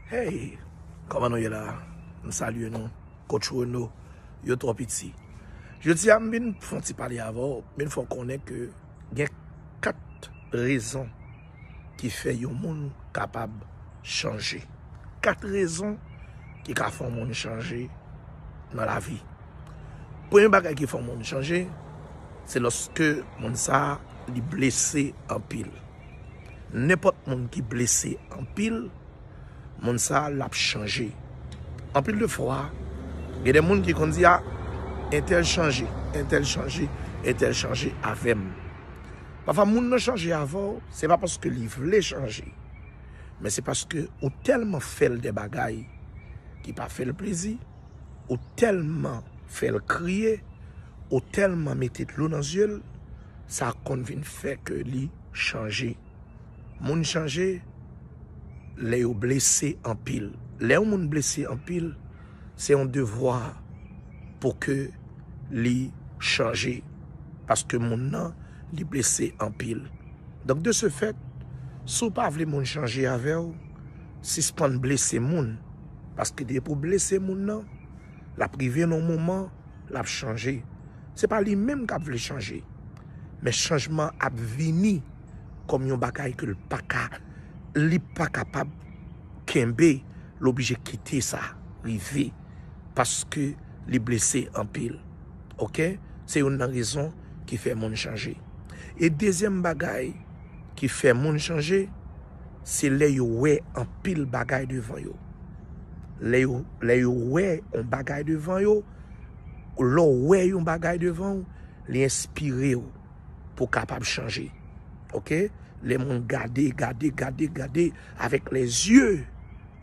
Hey Koman nou ye la M salye nou Coach Renaud Yo twò piti Jodi a m vin fon ti pale avè w M vin fè w konnen ke gen 4 rezon ki fè yon moun kapab chanje 4 rezon ki ka fè yon moun chanje nan lavi Premye bagay ki fè yon moun chanje se lòske moun sa li blese anpil Nenpòt moun ki blese anpil, moun sa a lap chanje. Anpil de fwa, gen de moun ki konn di a, entèl chanje, entèl chanje, entèl chanje avè m. Pafwa moun nan chanje avè w, se pa paske li vle chanje, men se paske ou tèlman fè l de bagay ki pa fè l plezi, ou tèlman fè l kriye, ou tèlman mete dlo nan zye l. sa konn vin fè kè li chanje. Moun chanje lè yo blese anpil. Lè yon moun blese anpil, se yon devwa pou kè li chanje. Paske moun nan li blese anpil. Donk de se fèt, si w pa vle moun chanje avè w, sispann blese moun. Paske depi w blese moun nan, l ap rive nan yon moman l ap chanje. Se pa li menm k ap vle chanje. Men chanjman an ap vini kòm yon bagay ke l pa ka, li pa kapab kenbe, l oblije kite sa rive paske li blese anpil. Ok? Se youn nan rezon ki fè moun chanje. E dezyèm bagay ki fè moun chanje. Se lè yo wè anpil bagay devan yo. Lè yo, lè yo wè yon bagay devan yo, lè w wè yon bagay devan w, li enspire w pou w kapab chanje. Ok? Lè moun gade, gade, gade, gade avèk lè zye,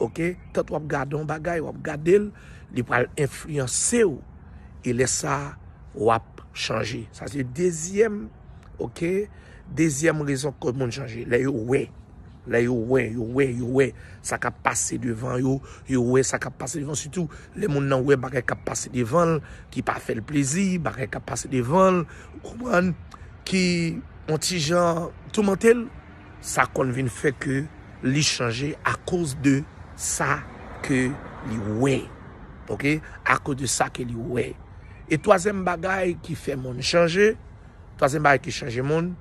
ok? Tant w ap gade yon bagay, w ap gade l, li pral enfliyanse w e lè sa a w ap chanje. Sa se dezyèm. Ok, dezyèm rezon ke moun chanje, lè yo wè, lè yo wè, yo wè, yo wè, sa kap pase devan yo, yo wè sa kap pase devan, sitou lè moun nan wè bagay kap pase devan, ki pa fèl plezi, bagay kap pase devan, ou konprann, ki yon ti jan toumantel, sa konn vin fè ke li chanje akoz de sa ke li wè. Ok, akoz de sa ke li wè. E twazyèm bagay ki fè moun chanje. Twazyèm bagay ki chanje moun,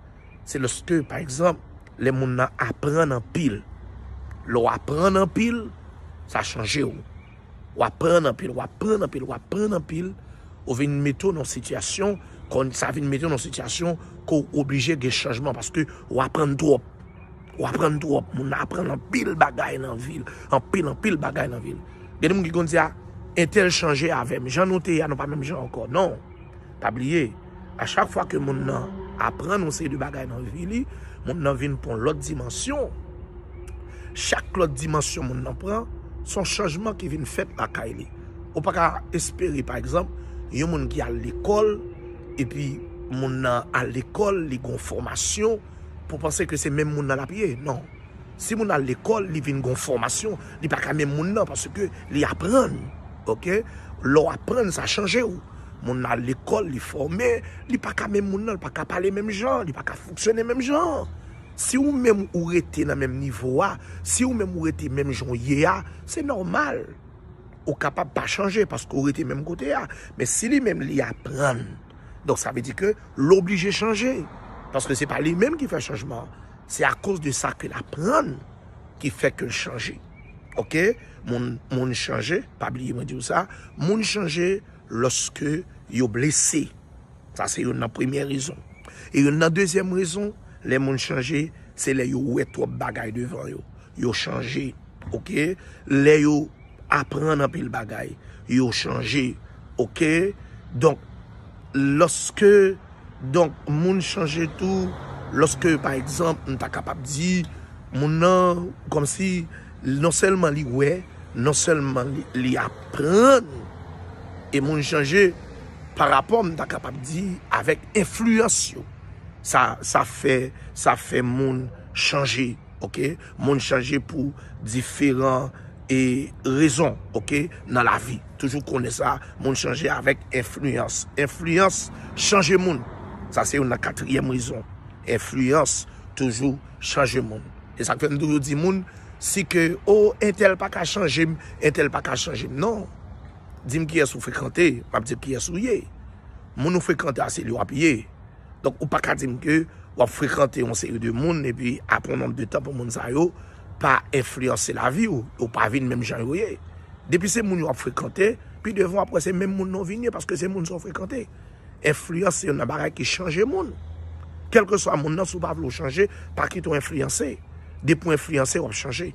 se lòske, pa egzanp, lè moun nan aprann anpil. Lè w aprann anpil, sa chanje ou. W aprann anpil, w aprann anpil, w aprann anpil, ou vin mete w nan sitiyasyon, kon sa vin mete w nan sitiyasyon ke w oblije gen chanjman paske w aprann twòp. W aprann twòp. Moun nan aprann anpil bagay nan vi l. Anpil, anpil bagay nan vi l. Gen de moun ki konn di a, entèl chanje avè m. Jan nou te ye a, nou pa menm jan ankò. Non. Pa bliye, a chak fwa ke moun nan aprann yon seri de bagay nan vi li, moun nan vin pran yon lòt dimansyon. Chak lòt dimansyon moun nan pran, se yon chanjman ki vin fèt lakay li. Ou pa ka espere, pa egzanp, yon moun ki al lekòl, epi moun nan al lekòl, li gen yon fòmasyon, pou w panse ke se menm moun nan l ap ye. Non. Si moun al lekòl, li vin gen yon fòmasyon, li pa ka menm moun nan, paske li aprann. Ok? Lè w aprann, sa chanje ou. Moun nan al lekòl, li fòme, li pa ka menm moun nan, li pa ka pale menm jan, li pa ka fonksyone menm jan. Si ou menm ou rete nan menm nivo a, si ou menm ou rete menm jan ou ye a, se nòmal. Ou kapab pa chanje paske ou rete menm kote a. Men si li menm li aprann, donk sa vle di ke l oblije chanje. Paske se pa li menm ki fè chanjman an. Se akoz de sa ke l aprann ki fè ke l chanje. Ok moun moun chanje pa bliye mwen diw sa moun chanje loske yo blese sa se youn nan premye rezon e youn nan dezyèm rezon lè moun chanje se lè yo wè twòp bagay devan yo yo chanje ok lè yo aprann anpil bagay yo chanje ok donk loske Donk moun chanje tou lòske pa egzanp m ta kapab di moun nan kòmsi non sèlman li wè, non sèlman li aprann e moun chanje pa rapò m ta kapab di avèk enfliyans yo. Sa fè moun chanje. Moun chanje pou diferan. e rezon ok nan lavi toujou konnen sa moun chanje avèk enfliyans enfliyans chanje moun sa se youn nan katriyèm rezon enfliyans toujou chanje moun e sak fèm toujou di moun si ke o entèl pa ka chanjem entèl pa ka chanjem non dim kiyès ou frekante map diw kiyès ou ye moun ou frekante a se li wap ye. Donk ou pa ka di m ke w ap frekante yon seri de moun epi apre yon nonb de tan pou moun sa yo pa enfliyanse lavi w, yo pa vin menm jan yo ye. Depi se moun yo ap frekante, pi devan w ap wè se menm moun nan w vin ye paske se moun sa w frekante. Enfliyans se youn nan bagay ki chanje moun. Kèlkeswa moun nan, si w pa vle w chanje, pa kite w enfliyanse. Depi w enfliyanse, w ap chanje.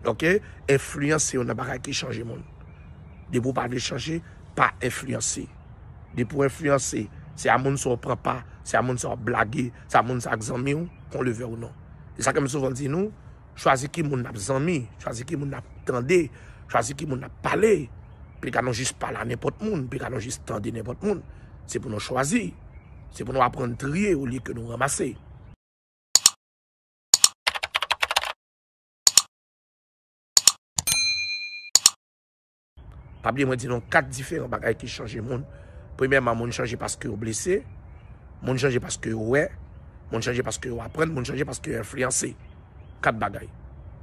Ok, enfliyans se youn nan bagay ki chanje moun. Depi w pa vle chanje, pa enfliyanse. Depi w enfliyanse, se a moun sa w pran pa, se a moun sa w blage, se a moun sa k zanmi w, kon le vè ou non. Se sa ke m souvan di nou, chwazi ki moun n ap zanmi, chwazi ki moun n ap tande, chwazi ki moun n ap pale, pika nou jis pale a nenpòt moun, pika nou jis tande nenpòt moun. Se pou nou chwazi, se pou nou aprann triye olye ke nou ranmase. Pa bliye mwen di nou 4 diferan bagay ki chanje moun. Premyèman, moun chanje paske yo blese, moun chanje paske yo wè, moun chanje paske yo aprann, moun chanje paske yo enfliyanse. 4 bagay.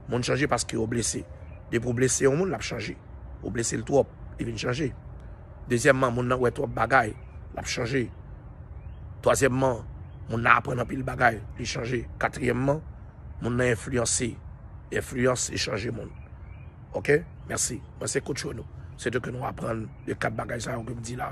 Moun chanje paske yo blese. Depi ou blese yon moun, l ap chanje. Ou blese l twòp, li vin chanje. Dezyèmman, moun nan wè twòp bagay, l ap chanje. Twazyèmman, moun nan aprann anpil bagay, li chanje. Katriyèmman, moun nan enfliyanse. Enfliyans, li chanje moun. Ok merci mwen se coach yo nou se de ke nou aprann de 4 bagay sa yo ke m di la.